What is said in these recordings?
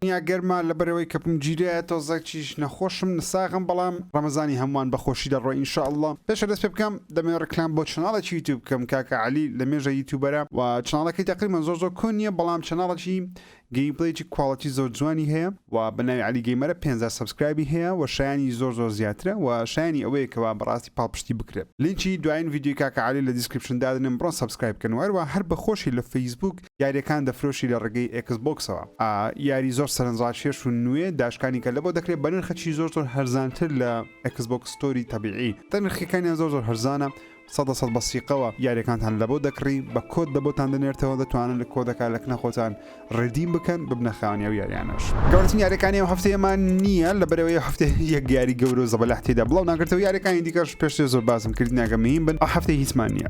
دنیا گەرمە لەبەرئەوەی کەپم گیرایە تۆزەک چیش نەخۆشم نساغم بەڵام ڕەمەزانی هەمووان بەخۆشی دەڕۆی ان شاء اللە پێش دەست پێ بکەم دەمەوێ ڕیکلام بۆ چەناڵێکی یوتیوب بکەم کاکە عەلی لەمێژە یوتیوبەرە و چەناڵەکەی تەقریبەن زۆر زۆر کۆن نیە بەڵام چەناڵەکی گەیمپلەیەکی کواڵیتی زۆر جوانی هەیە و بەناوی عەلی گەیمەرە پێنج هەزار سەبسکرایبی هەیە و شایەنی زۆر زۆر زیاترە و شایەنی ئەوەیە کەوا بەڕاستی پاڵپشتی بکرێت لینکی دوایین ڤیدیۆی کاکە عەلی لە دیسکریپشن دادەنێم بڕۆن سەبسکرایب بکەن و هەروەها هەر بەخۆشی لە فەیسبووک یاریەکان دەفرۆشی لە ڕێگەی ئێکس بۆکسەوە ئا یاری زۆر سەرنجڕاکێش و نوێ داشکانی کە لەبۆ دەکرێ بە نرخەکی زۆر زۆر هەرزانتر لە ئێکس بۆکس ستۆری تەبیعی تە نرخەکانیان زۆر زۆر هەرزانە سەدە سەد بە سیقەوە یاریەکانتان لەبۆ دەکڕی بە کۆد لە بۆتان دەنێرتەوە دەتوانن لە کۆدەکە لە کنە خۆتان ڕێدیم بکەن ببنە خاوەنی ئەو یاریانەش گەورەترین یاریەکانی ئەم هەفتەیەمان نیە لەبەرئەوەی ئەو هەفتە یەک یاری گەورە و زەبەلاح تێیدا بڵاو ناکرێتەوە یاریەکانی دیکەش پێشتر زۆر باسم کرد ناگەم مهیم بن ئەو هەفتەی هیچمان نیە.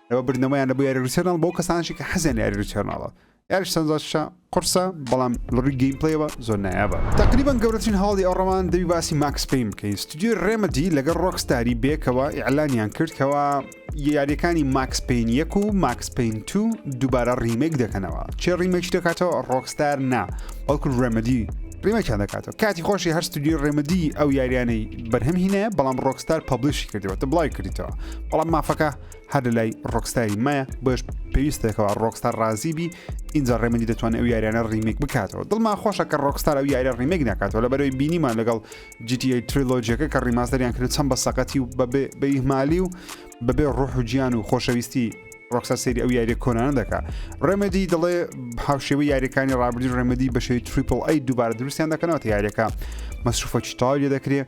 لەوە بردنەوەیان لە بۆ یاری ریتەرناڵ بۆ کەسانشی کە حەزیان یاری ریتەرناڵە یاری سەنجاشە قرسە بەڵام لەڕووی گەیم پلەیەوە زۆر نایابە تقریبان گەورەترین هەواڵی ئەو ڕەوان دەوی باسی ماکس پین بکەین ستودیۆی ڕێمەدی لەگەڵ ڕۆکستاری بێکەوە ئیعلانیان کرد کەوا یاریەکانی ماکس پین یەک و ماکس پین تو دووبارە ڕیمێک دەکەنەوە چێ ڕیمێکی دەکاتەوە ڕۆکستار نا بەڵکو ڕێمەدی ڕیمەکیان دەکاتەوە کاتی خۆشی هەر ستودیو ڕێمەدی ئەو یاریانەی بەرهەم هینە بەڵام ڕۆکستار پبلیشی کردەوە تە بڵای کردیتەوە بەڵام مافەکە هەر لە لای ڕۆکستاری مایە بەش پێویستێکەوە ڕۆکستار ڕازی بی اینجا ڕێمەندی دەتوانێت ئەو یاریانە ڕیمێک بکاتەوە دڵما خۆشە کە ڕۆکستار ئەو یاریە ڕیمێک ناکاتەوە لە بەرەوەی بینیمان لەگەڵ GTA تریلۆجیەکە کە ڕیماستەریان کرد چەند بە سەقەتی و بەبێ بەیهمالی و بەبێ ڕۆح و گیان و خۆشەویستی ڕۆکسا سری ئەو یاریە کۆنانە دەکە ڕێمەدی دەڵێ هاوشێوە یاریەکانی ڕابردی ڕێمەدی بەشێوی تریپل ئەی دووبارە دروستیان دەکەنەوە یاریەکە مەسروفەکی تاوی دەکرێت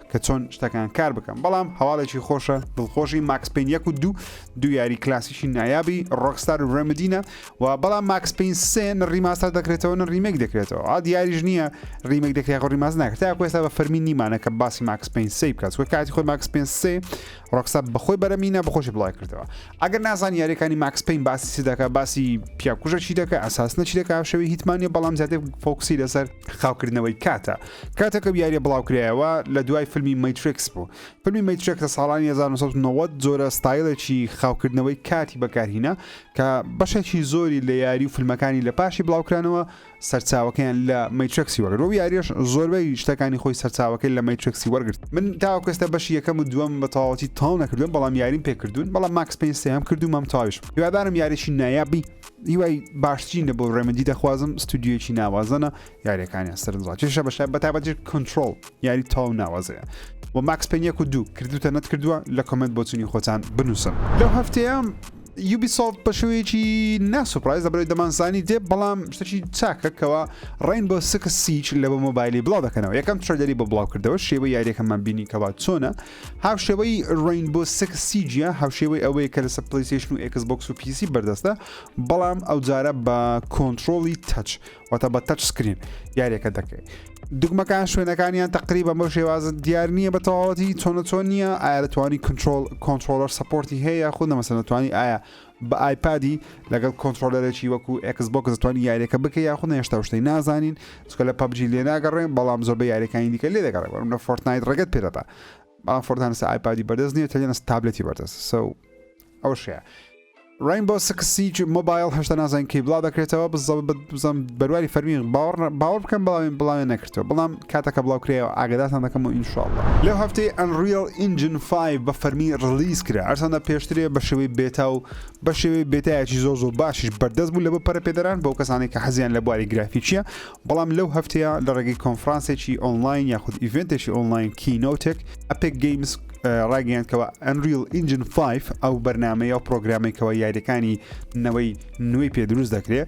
کە چۆن شتەکان کار بکەم بەڵام هەواڵێکی خۆشە دڵخۆشی ماکس پین یەک و دوو دوو یاری کلاسیکی نایابی ڕۆکستار و ڕێمدینە و بەڵام ماکس پین سێ ڕیماستەر دەکرێتەوە نە ڕیمێک دەکرێتەوە ئاد یاریش نییە ڕیمێک دەکرێت خۆ ڕیماز ناکرێت تا کوێستا بە فەرمی نیمانە کە باسی ماکس پین سێ بکات وە کاتی خۆی ماکس پین سێ ڕۆکسا بەخۆی بەرەمینە بەخۆشی بڵای کردەوە ئەگەر نازان یاریەکانی ماکس پین باسی دەکە باسی پیاکوژە چی دەکە ئەساس نەچی دەکە شەوی هیتمانە بەڵام زیاتر فۆکسی لەسەر خاوکردنەوەی کاتە کاتێک ئەو یاریە بڵاوکرایەوە لە دوای فیلمی مەیترێکس بوو فیلمی مەیترێک لە ساڵانی 1990 زۆرە ستایلێکی خاوکردنەوەی کاتی بەکارهینە کە بەشێکی زۆری لە یاری و فیلمەکانی لە پاشی بڵاوکرانەوە سەرچاوەکەیان لە مەیترێکسی وەگرت و یاریش زۆربەی شتەکانی خۆی سەرچاوەکەی لە مەیترێکسی وەرگرت من تاوکەستە بەشی یەکەم و دووەم بە تەواوەتی تاو نەکردوم بەڵام یاریم پێکردوون بەڵام ماکس پێ سێم کردو مەم تاویش هیوادارم یاریی نایابی هیوای باشترینە بۆ ڕێمەدی دەخوازم ستودیویەکی ناوازەنە یاریەکانیان سەرنجڕاکێشە بەشای بەتابەتی کنترۆڵ یاری تاو ناوازەیە و ماکس پێنیەک و دوو کردوتە نەت کردووە لە کۆمنت بۆچنی خۆتان بنووسن لەو هەفتەیە یوبی سۆفت بە شوەیەکی ناسوپرایز دەبێت دەمانزانی دێ بەڵام شتەکی چاکە کەەوە ڕین بۆ سکس سیچ لە بۆ مۆبایلی بڵاو دەکەنەوە یەکەم ترلەری بۆ بڵاو کردەوە شێوە یاریەکەمان بینی کەوا چۆنە هاوشێوەی Rainbow Six Siege هاوشێوەی ئەوەیە کە لەسەر پلیسیشن و ئێکس بۆکس و پیسی بەردەستە بەڵام ئەوجارە بە کۆنتترۆلی تەچ واتە بە تەچ سکرین یاریەکە دەکەیت دگمەکان شوێنەکانیان تقریبا بۆ شێوازە دیار نییە بە تەواوەتی چۆنە چۆن نییە ئایا دەتوانی کنترۆل کۆنتترۆلەر سپۆرتی هەیە یاخود نەمەسە دەتوانی ئایا بە ئایپادی لەگەڵ کۆنتڕۆلەرێکی وەکو ئێکس بۆکس دەتوانین یاریەکە بکە یاخود نەهێشتا و شتەی نازانین چکە لە پەبجی لێ ناگەڕێن بەڵام زۆربە یاریەکانی دیکە لێ دەگەڕێ وەرم لە فۆرتنایت ڕێگەت پێدەدا بەڵام فۆرتانسە ئایپادی بەردەست نیە تەلێنە تابلەتی بەردەست سە ئەو شەیە ڕین بۆ سکسیج مۆبایل هەشتا نازان کەی بڵا دەکرێتەوە بزەم بەرواری فەرمی باوەڕ باوەڕ بکەم بەڵاوێن بڵاوێن نەکردەوە بەڵام کاتەکە بڵاو کرایەوە ئاگادارتان دەکەمەوە ان شاء اللە. لەو هەفتەی ئەنڕیڵ ئینجن فایڤ بە فەرمی ڕلیز کرا هەرچەندە پێشترێ بە شێوەی بێتا و بە شێوەی بێتایەکی زۆر زۆر باشیش بەردەست بوو لەبۆ پەرەپێدەران بۆ کەسانێک کە حەزیان لە بواری گرافیکیە بەڵام لەو هەفتەیە لە ڕێگەی کۆنفرانسێکی ئۆنلاین یاخود ئیڤێنتێکی ئۆنلاین کینۆتێک ئەپێک گەیمز ڕاگەیاند کەەوە ئەنریل ئینجن 5 ئەو بەرنمەیە و پرۆگرامێکەوە یاریەکانی نەوەی نوێی پێ دروست دەکرێت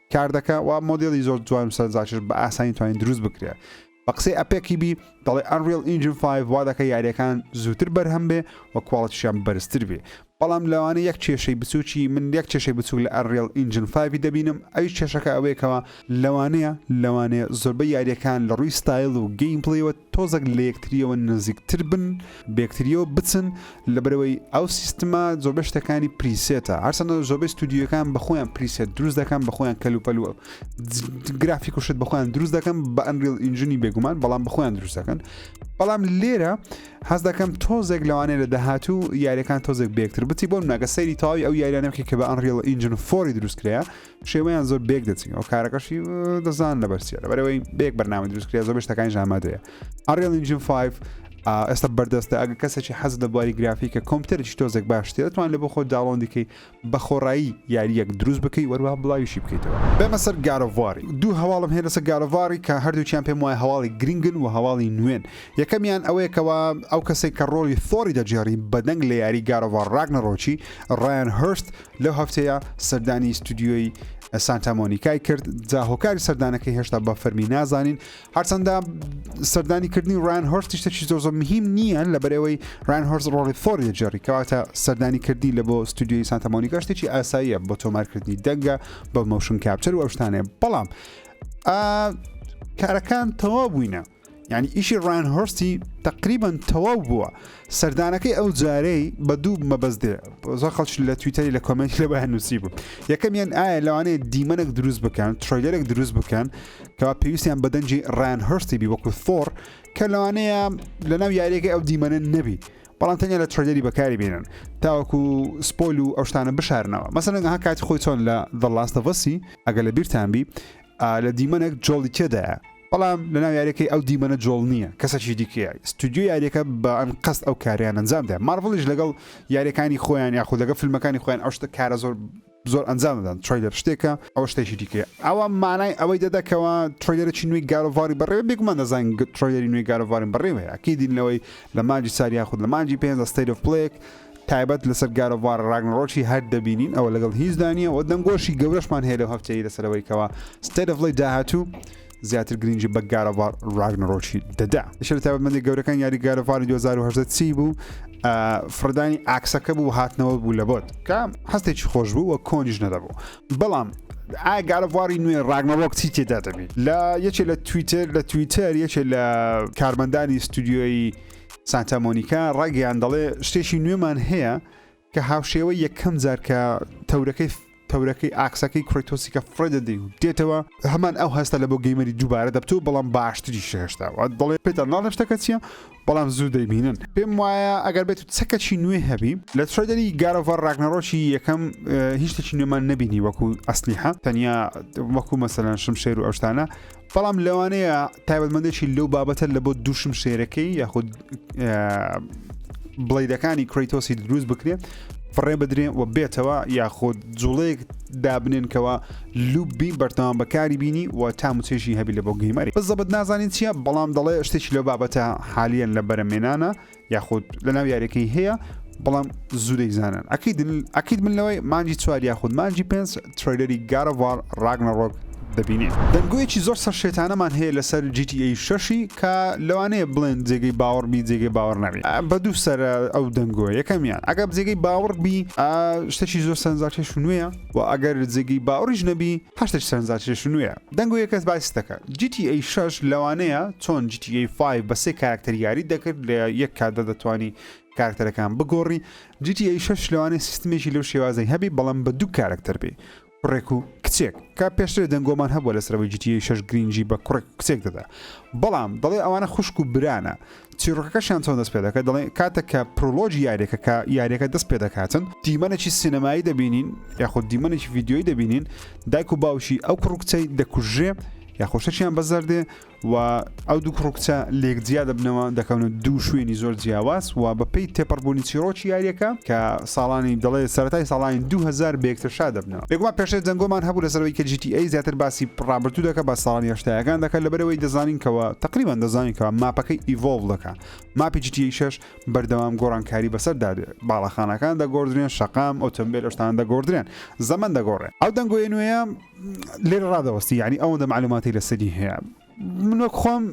کار دەکە و مۆدیلی زۆر جوان و سەرنجڕاکێش بە ئاسانی توانین دروست بکرێ بە قسەی ئەپێکی بی دەڵێ ئەنریل ئینجن 5 وا دەکە یاریەکان زووتر بەرهەم بێ و کوواڵەتیشیان بەرزتر بێ بەڵام لەوانە یەک کێشەی بچووکی من یەک کێشەی بچووک لە ئەنریل ئینجن 5 دەبینم ئەوی کێشەکە ئەوەیەکەوە لەوانەیە لەوانەیە زۆربە یاریەکان لە ڕووی ستایل و گەیم پڵیوە تۆزەک لە یەکتریەوە نزیکتر بن بەیەکتریەوە بچن لەبەرئەوەی ئەو سیستمە زۆربەی شتەکانی پریسێتە هەرچەندە زۆربەی ستودیوەکان بەخۆیان پریسێت دروست دەکەن بەخۆیان کەل و پەلوە گرافیک و شت بەخۆیان دروست دەکەن بە ئەنریل ئینجنی بێگومان بەڵام بەخۆیان دروست دەکەن بەڵام لێرە حەز دەکەم تۆزێک لەوانەیە لە داهاتوو یاریەکان تۆزێک بێکتر بچی بۆ ناگە سەیری تاوی ئەو یاریانەکە کە بە ئەنریل ئینجن فۆری دروستکرەیە شێوەیان زۆر بێک دەچین ئەو کارەکەشی دەزان لەبەرسیە لەبەرەوەی بێک بەرنامە دروستکرێ زۆر شتەکانی ژامادەیە ئەڕێڵ ئینجین 5 ئێستا بەردەستە ئەگە کەسێکی حەز لە بواری گرافیکە کۆمپیوتەرێکی تۆزێک باشتێ دەتوان لە بۆ خۆ داڵۆن دیکەی بە خۆڕایی یاریەک دروست بکەی وەروها بڵاویشی بکەیتەوە بەمە سەر گارەواری دوو هەواڵم هەیە لەسەر گارەواری کە هەردووچیان پێم وایە هەواڵی گرنگن و هەواڵی نوێن یەکەمیان ئەوەیەکەوە ئەو کەسێک کە ڕۆڵی فۆری دەجێڕی بەدەنگ لە یاری گارەوار ڕاگنەڕۆکی ڕایان هرست لەو هەفتەیە سەردانی ستودیۆی سانتا مۆنیکای کرد جا هۆکاری سەردانەکەی هێشتا بە فەرمی نازانین هەرچەندە سەردانی کردنی ڕان هۆرستی شتێکی زۆر زۆر مهم نییە لە بەرەوەی ڕان هۆرز ڕۆڵی فۆری دەجێڕی کەواتە سەردانی کردی لە بۆ ستودیۆی سانتا مۆنیکا شتێکی ئاساییە بۆ تۆمارکردنی دەنگە بە مەوشن کاپچەر و ئەوشتانێ بەڵام کارەکان تەوا بووینە یانی ئیشی ڕایان هۆرستی تقریبان تەواو بووە سەردانەکەی ئەو جارەی بە دوو مەبەست دێ زۆر خەڵش لە تویتەری لە کۆمنت لە بەیان نووسی بوو یەکەمیان ئایا لەوانەیە دیمەنێک دروست بکەن ترۆیلەرێک دروست بکەن کەوا پێویستیان بەدەنجی ڕایان هۆرستی بی وەکو ثۆر کە لەوانەیە لە ناو یاریەکەی ئەو دیمەنە نەبی بەڵام تەنیا لە ترۆیلەری بەکاری بێنن تاوەکو سپۆل و ئەوشتانە بشارنەوە مەسەنەگە ها کاتی خۆی چۆن لە دڵاستەڤەسی ئەگە لە بیرتان بی لە دیمەنێک جۆڵی تێدایە بەڵام لەناو یاریەکەی ئەو دیمەنە جۆڵ نییە کەسەکی دیکەیە ستودیو یاریەکە بە ئەنقەست ئەو کاریان ئەنجامدا مارڤڵیش لەگەڵ یاریەکانی خۆیان یاخود لەگە فیلمەکانی خۆیان ئەو شتە کارە زۆر زۆر ئەنجام دەدەن تریلەر شتێکە ئەو شتێکی دیکە ئەوە مانای ئەوەی دەدەکەوە تریلەرێکی نوێی گارۆڤاری بەڕێ بێگومان دەزان تریلەری نوێی گارۆڤارین بەڕێوەیە کیدینەوەی لە ماجی ساریاخود لە ماجی پێ دەستەیرف پلێک تایبەت لەسەر گاد ئۆف وار ڕاگنەڕۆکی هەر دەبینین ئەوە لەگەڵ هیچدا نییە و دەنگۆشی گەورەشمان هەیە لەو هەفتەیە لەسەر ئەوەی کەەوە ستەیت ئۆف پلەی داهاتوو زیاتر گرنگی بە گاد ئۆف وار ڕاگنەڕۆکی دەدا شەر تایبەتمەندی گەورەکان یاری گاد ئۆف وار 2018 چی بوو فڕدانی ئاکسەکە بوو هاتنەوە بوو لە بۆت کە هەستێکی خۆش بوو و کۆنیش نەدەبوو بەڵام ئایا گارەواری نوێ ڕاگنەوەک چی تێدا دەبیت لە یەکێ لە تویتر لە تویتر یەکێ لە کارمەندانی ستودیۆی سانتا مۆنیکا ڕاگەیان دەڵێ شتێکی نوێمان هەیە کە هاوشێوە یەکەم جار کە تەورەکەی تەورەکەی ئاکسەکەی کڕیتۆسی کە فرێدە دی دێتەوە هەمان ئەو هەستە لە بۆ گەیمەری دووبارە دەبتو بەڵام باشتری شێشتاوە دەڵێ پێتان ناڵە شتەکە چییە بەڵام زوو دەیبینن پێم وایە ئەگەر بێت و چەکەچی نوێ هەبی لە ترێدەری گارۆڤەر ڕاگنەڕۆکی یەکەم هیچ شتێکی نوێمان نبینی وەکو ئەسلیحە تەنیا وەکو مەسەلەن شمشێر و ئەوشتانە بەڵام لەوانەیە تایبەتمەندێکی لەو بابەتە لە بۆ دووشم شێرەکەی یاخود بڵیدەکانی کرەیتۆسی دروست بکرێ فڕێ بدرێن و بێتەوە یاخود جوڵەیەک دابنێنکەوە لوبی بەرتەوان بەکاری بینی و تا موچێشی هەبی لە بۆ گەیمەری بەزەبت نازانین چییە بەڵام دەڵێ شتێکی لە بابەتە حالیان لە بەرەمێنانە یاخود لە ناو یاریەکەی هەیە بەڵام زوو دەیزانن ئەکەیت ئەکیت من لەوەی مانجی چوار یاخود مانجی پێنج تریلەری گارەوار ڕاگنەڕۆک دەبینێ دەنگویەکی زۆر سەر شێتانەمان هەیە لەسەر GTA شەشی کە لەوانەیە بڵێن جێگەی باوەڕ بی جێگەی باوەڕ نەبێت بە دوو سەر ئەو دەنگۆ یەکەمیان ئەگەر جێگەی باوەڕ بی شتێکی زۆر سەرنجاکێش نوێە و ئەگەر جێگەی باوەڕیش نەبی هەرچی سەرنجدار چێژ نوێیە دەنگ و یەکەس باسی دەکات GTA 6 لەوانەیە چۆن GTA 5 بە سێ کارکتەر یاری دەکرد لە یەک کاتدا دەتوانی کارکتەرەکان بگۆڕی GTA 6 لەوانەیە سیستمێکی لەو شێوازەی هەبی بەڵام بە دوو کارکتەر بێ کوڕێک و کچێک کا پێشتر دەنگۆمان هەبووە لەسەرەوەی GTA 6 گرنگی بە کوڕێک کچێک دەدا بەڵام دەڵێ ئەوانە خوشک و برانە چیرۆکەکەشیان چۆن دەست پێ دەکات دەڵێن کاتێک کە پرۆلۆژی یاریەکە کە یاریەکە دەست پێ دەکاتن دیمەنێکی سینەمایی دەبینین یاخود دیمەنێکی ڤیددیۆی دەبینین دایک و باوشی ئەو کوڕکچەی دەکوژێ یاخۆشەشیان بەزەردێ و ئەو دوو کوڕکچە لێک جیا دەبنەوە دەکەونە دوو شوێنی زۆر جیاواز و بەپی تێپەڕبوونی چیرۆکی یاریەکە کە ساڵانی دەڵێ سەرای ساڵانی 2000 بێکترشا دەبنە بێگومان پێشتر دەنگۆمان هەبوو لەسەر ئەوەی کە جی تی ئەی زیاتر باسی ڕابردوو دەکا با ساڵانی هەشتایەکان دەکا لەبەر ئەوەی دەزانین کەوە تەقریبەن دەزانین کەوە ماپەکەی ئیڤۆڵڤ دەکا ماپی جی تی ئەی شەش بەردەوام گۆڕانکاری بەسەر دادێ باڵەخانەکان دەگۆڕدرێن شەقام ئۆتۆمبێل ئەشتان دەگۆڕدرێن زەمەن دەگۆڕێ ئەو دەنگۆیە نوێیە لێرە ڕادەوەستی یعنی ئەوەندە معلوماتی لەسەری هەیە من وەک خۆم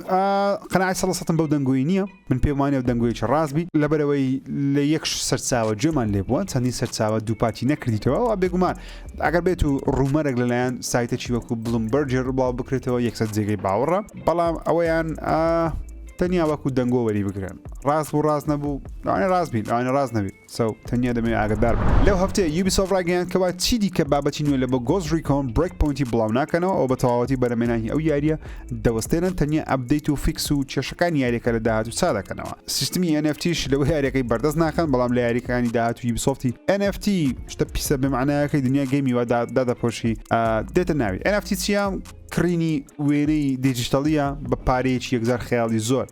قەناعەت سەد لە سەدم بەو دەنگۆی نییە من پێم وانە و دەنگۆیەکی ڕاست بی لەبەرەوەی لە یەک سەرچاوە گوێمان لێ بووە چەندین سەرچاوە دووپاتی نەکردیتەوە و بێگومان ئەگەر بێت و ڕوومەرەك لەلایەن سایتەکی وەکو بڵم بەرجێر بڵاو بکرێتەوە یەکسەر جێگەی باوەڕە بەڵام ئەوەیان تەنیا وەکو دەنگۆ وەری بگرن ڕاست بوو ڕاست نەبوو لەوانە ڕاست بین لەوانە ڕاست نەبی سەو، تەنیا دەمەوێت ئاگادار بم. لەو هەفتەیە یوبیسۆفت ڕایگەیاند کەوا چی دیکە بابەتی نوێ لەبۆ گۆست ڕیکۆن برێکپۆینتی بڵاوناکەنەوە ئەو بەتەواوەتی بەرە مێناهی ئەو یاریە دەوەستێنن تەنیا ئەپدەیت و فیکس و کێشەکانی یاریەکە لە داهاتوو چادەکەنەوە سیستمی ئێن ئێف تیش لەوە یاریەکەی بەردەست ناخەن بەڵام لە یاریەکانی داهاتوو یوبیسۆفتی ئێن ئێف تی شتە پیسە بێ مەعنایەکەی دنیای گەیمی وا دادەپۆشی دێتە ناوی ئێن ئێف تی چیە کڕینی وێنەی دیجیتەڵیە بە پارەیەکی یەکجار خەیاڵی زۆر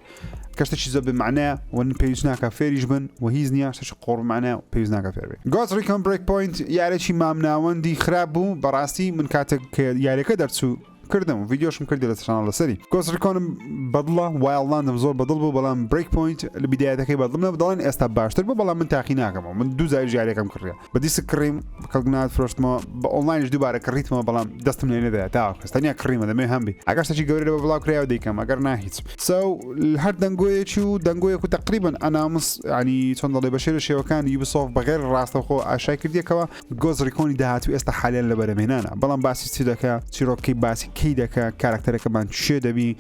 کە شتێکی زۆر بێ مەعنایە و پێویست ناکە فێریش بن و هیچ نییە شتێکی قۆڕ مەعنایە و پێویست ناکە فێر بێ گۆز ڕیکۆن برێک پۆینت یارێکی مامناوەندی خراپ بوو بەڕاستی من کاتێک کە یاریەکە دەرچوو کردم و ڤیددیۆشم کردی لە چناڵ لەسەری گۆسریکۆنم بەدڵە وایڵندم زۆر بەدڵ بوو بەڵام برێک پوینت لە بیدایەتەکەی بەدڵمە دەڵێن ئێستا باشتر بوو بەڵام من تاقی ناکەمەوە من دوو زاری ژارێکم کڕیە بە دیسک کڕیم کەڵک نات فرۆشتمەوە بە ئۆنلاینش دووبارە کڕیتمەوە بەڵام دەستم لێ نەدایە تاواکەس تەنیا کڕیمە دەمێ هەم بی ئەگەشتەی گەورە لەوە بڵاو کرایەوە دیکەم ئەگەر نا هیچ ساو هەر دەنگۆیەکی و دەنگۆیەک و تقریبن ئەنامس ینی چۆن دەڵێ بە شێرە شێوەکان یوبسۆف بەغێر ڕاستەخۆ ئاشای کردیەکەوە گۆز ڕیکۆنی داهات و ئێستا حالیان لە بەرەمێنانە بەڵام باسی چی دەکە چیرۆکی باسی کەی دەکە کارکتەرەکەمان چێ دەبی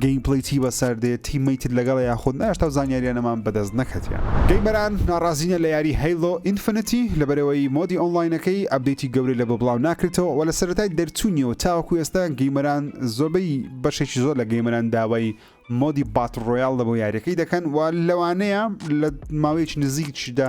گەیم پلەی چی بەسەر دێت تیمەی تر لەگەڵ یاخود ناشتا و زانیاریانەمان بەدەست نەکەتیان گەیمەران ناڕازینە لە یاری هەیلۆ ئینفنتی لە بەرەوەی مۆدی ئۆنلاینەکەی ئەبدەیتی گەورەی لە بۆ بڵاو ناکرێتەوە وە لە سەرەتای دەرچوونیەوە تاوەکو ئێستا گەیمەران زۆربەی بەشێکی زۆر لە گەیمەران داوای مۆدی بات ڕۆیاڵ لە بۆ یاریەکەی دەکەن و لەوانەیە لە ماوەیەکی نزیکدا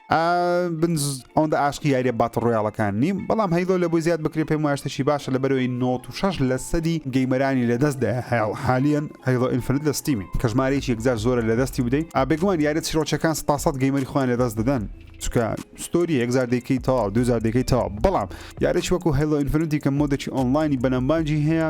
ئەوەندە ئاشقی یاریە باتە ڕۆیاڵەکان نیم بەڵام هەیلۆ لە بۆی زیاد بکرێ پێم واشتەشی باشە لە بەرەوەی 96 لە سەدی گەیمەرانی لە دەست دای هەیڵ حالیان هەیڵۆ ئینفرد لە ستیمی کە ژمارەیەکی یەکجار زۆرە لە دەستی بدەیت ئابێگومان یارە چیرۆچەکان سپاسەت گەیمەری خۆیان لە دەست دەدەن چکە ستۆری یەکزار دەکەی تەواو دوزار دەکەی تەواو بەڵام یارێک وەکو هەلو ئینفرنتی کە مۆدەکی ئۆنلاینی بەنەمبانجی هەیە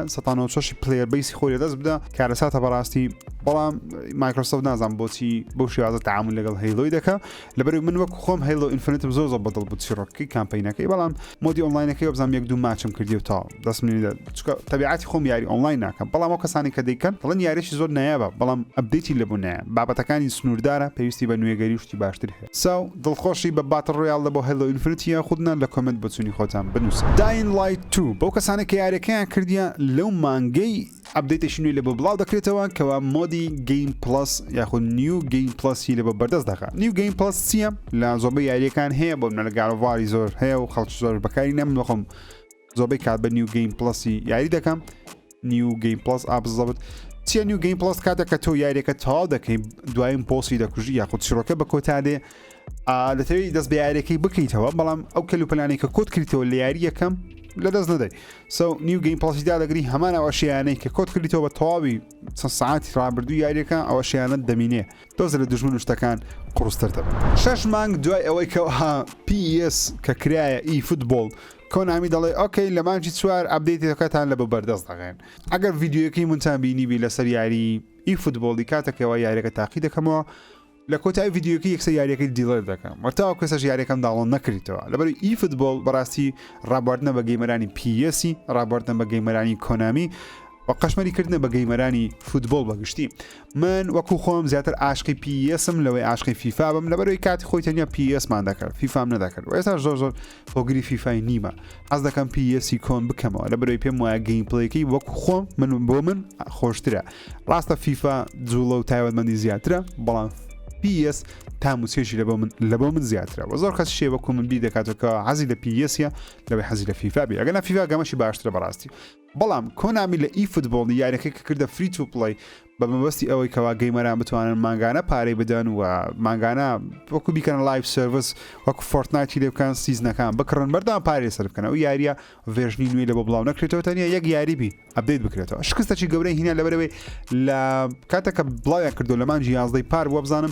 سەشی پلێر بیسی خۆی دەست بدە کارەساتە بەڕاستی بەڵام مایکرۆسۆف نازان بۆچی بۆ شێوازە تعامل لەگەڵ هەیلۆی دەکە لەبەرو من وەک خۆم هەیڵۆ ئینفنتم زۆر زۆر بەدڵ بوو چیڕۆکی کامپینەکەی بەڵام مۆدی ئۆنلاینەکەی وەبزانام یەک دوو ماچم کردی و تاو دەست منی دە چکە تەبیعاتی خۆم یاری ئۆنلاین ناکەم بەڵام ئەو کەسانی کە دەیکەن دڵن یاریشی زۆر نایابە بەڵام ئەبدەیتی لەبوونایە بابەتەکانی سنووردارە پێویستی بە نوێگەری و شتی باشتر هەیە ساو دڵخۆشی بە باتڵ ڕۆیاڵ دە بۆ هەیڵۆ ئینفنت یاخود نا لە کۆمێنت بۆچوونی خۆتان بنووسن داین لایت تو بەو کەسانەی کە یاریەکەیان کردیە لەو مانگەی ئەپدەیتێکی نوێی لەبۆ بڵاو دەکرێتەوە کەوا مۆدی گەیم پڵس یاخود نیو گەیم پڵسی لەبە بەردەست دەکات نیو گەیم پڵس چییە لە زۆبە یاریەکان هەیە بۆ منە لە گارڤاری زۆر هەیە و خەڵکی زۆر بەکاری نەم نخۆم زۆبەی کات بە نیو گەیم پڵسی یاری دەکەم نیو گەیم پڵس ئابزەبت چیە نیو گەیم پڵس کاتە کە تۆ یاریەکە تەواو دەکەین دوایم پۆسی دەکوژی یاخود چڕۆکە بە کۆتا دێ دەتەوێت دەست بە یاریەکەی بکەیتەوە بەڵام ئەو کەلوپەلانی کە کۆت کردیتەوە لە یاری یەکەم لە دەست نەدەی سو نیو گەیم پڵسیدا دەگری هەمان ئەوە شیانەی کە کۆت کردیتەوە بە تەواوی چەند سعاتی ڕابردوو یاریەکە ئەوە شیانت دەمینێ دۆز لە دژمن شتەکان قڕستر دەبن شش مانگ دوای ئەوەی کە ها PS کە کرایە ئی فوتبۆڵ کۆنامی دەڵێ ئۆکەی لە مانجی چوار ئەبدەیتەکەتان لە بە بەردەست دەغێن ئەگەر ڤیددیوەکەی منتان بینیبی لەسەر یاری ئی فوتبۆڵی کاتەکەەوە یاریەکە تاقی دەکەمەوە لە کۆتایی ڤیدیۆیەکە یەکسەر یاریەکەی دیڵێت دەکەم وە تاوەکو ئێستاش یاریەکەم داڵۆن نەکریتەوە لەبەر ئی فوتبۆڵ بەڕاستی ڕابواردنە بە گەیمەرانی پیەسی ڕابواردنە بە گەیمەرانی کۆنامی و قەشمەری کردنە بە گەیمەرانی فوتبۆڵ بەگشتی من وەکو خۆم زیاتر عاشقی پیسم لەوەی عاشقی فیفا بم لەبەرەوەی کاتی خۆی تەنیا پیسمان دەکرد فیفام نەدەکرد و ئێستا زۆر زۆر هۆگری فیفای نیمە حەز دەکەم پی یسی کۆن بکەمەوە لە برۆی پێم وایە گەین پلەیەکەی وەک خۆم من بۆ من خۆشترە ڕاستە فیفا جوڵە و تایوەتمەندی زیاترە بەڵام PS تا موچێشی لە من لە بۆ من زیاترە و زۆر کەس شێوەکو من بی دەکاتەوە حەزی لە پیسە لەوەی حەزی لە فیفا بێ ئەگەنا فیفا گەمەشی باشترە بەڕاستی بەڵام کۆنامی لە ئی فوتبۆڵی یاریەکەی کە کردە فری تو پڵەی بە مەبەستی ئەوەی کەوا گەیمەران بتوانن مانگانە پارەی بدەن و مانگانە وەکو بیکەن لایف سرویس وەکو فۆرتنایتی لێ بکەن سیزنەکان بکڕن بەردان پارێ سەر بکەن ئەو یاریە ڤێژنی نوێی لە بۆ بڵاو نەکرێتەوە تەنیا یەک یاریبی ئەبدەیت بکرێتەوە شکستەی گەورەی هینا لەبەرەوەی لە کاتەکە بڵاویان کردو لەمان جیازدەی پار بووە بزانم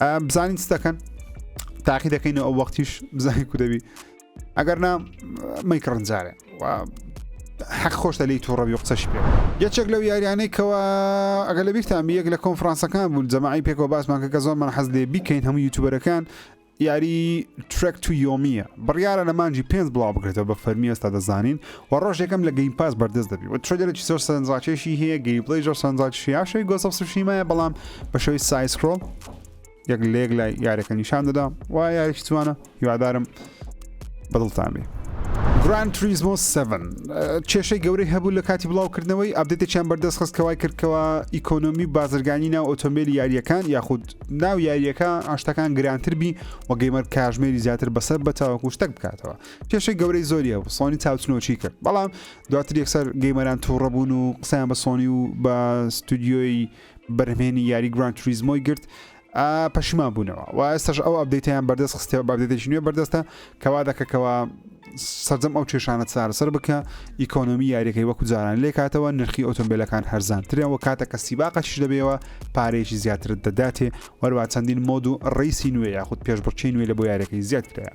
بزانین چ دەکەن تاقی دەکەینەوە ئەو وەختیش بزانین کو دەبی ئەگەر نا مەیک ڕنجارێ حەق خۆشتە لی تووڕەبی و قسەش پێ یەکێک لەو یاریانەی کەەوە ئەگە لە بیرتان یەک لە کۆنفرانسەکان بوو جەماعی پێکەوە باسمان کە کە زۆرمان حەز لێ بیکەین هەموو یوتوبەرەکان یاری ترێک تو یۆمیە بڕیاە لە مانجی پێنج بڵاو بکرێتەوە بە فەرمی ئێستا دەزانین وە ڕۆژ یەکەم لە گەیم پاس بەردەست دەبی وە ترەیلەرێکی زۆر سەرنجڕاکێشی هەیە گەیمپلەی زۆر سەرنجڕاکێشی هەیە شەوی گۆست ئۆف سوشیمایە بەڵام بە شێوەی سای سکرۆڵ یەک لە یەک لای یارەکە نیشان دەدا و یاریش جوانە هیوادارم بەدڵتان بێ گران تریزمۆ 7 کێشەی گەورەی هەبوو لە کاتی بڵاوکردنەوەی ئەبدێتێکیان بەردەست خست کەوای کردکەوە ئیکۆنۆمی و بازرگانی ناو ئۆتۆمبیل یاریەکان یاخود ناو یاریەکە ئاشتەکان گرانتر بی و گەیمەر کاژمێری زیاتر بەسەر بەتاوەکو شتەک بکاتەوە کێشەی گەورەی زۆریە و سۆنی چاوچنۆکی کرد بەڵام دواتر یەکسەر گەیمەران تووڕە بوون و قسەیان بە سۆنی و بە ستودیۆی بەرهمێنی یاری گران توریزمۆی گرت پەشیمان بوونەوە و ئێستش ئەو ئەبدەیتیان بەردەست خستێ بەردێتێکی نوێ بەردەستە کەوا دەکەکەەوە سەرجەم ئەو کێشانە چارەسەر بکە ئیکۆنۆمی یاریەکەی وەکو جاران لێکاتەوە نرخی ئۆتۆمبیلەکان هەرزانترێن و کاتە کە سیباقەش دەبێەوە پارێکی زیاترت دەداتێ وەروە چەندین مۆد و ڕیسی نوێ یاخود پێشبڕچی نوێ لە بۆ یارەکەی زیاد کرایە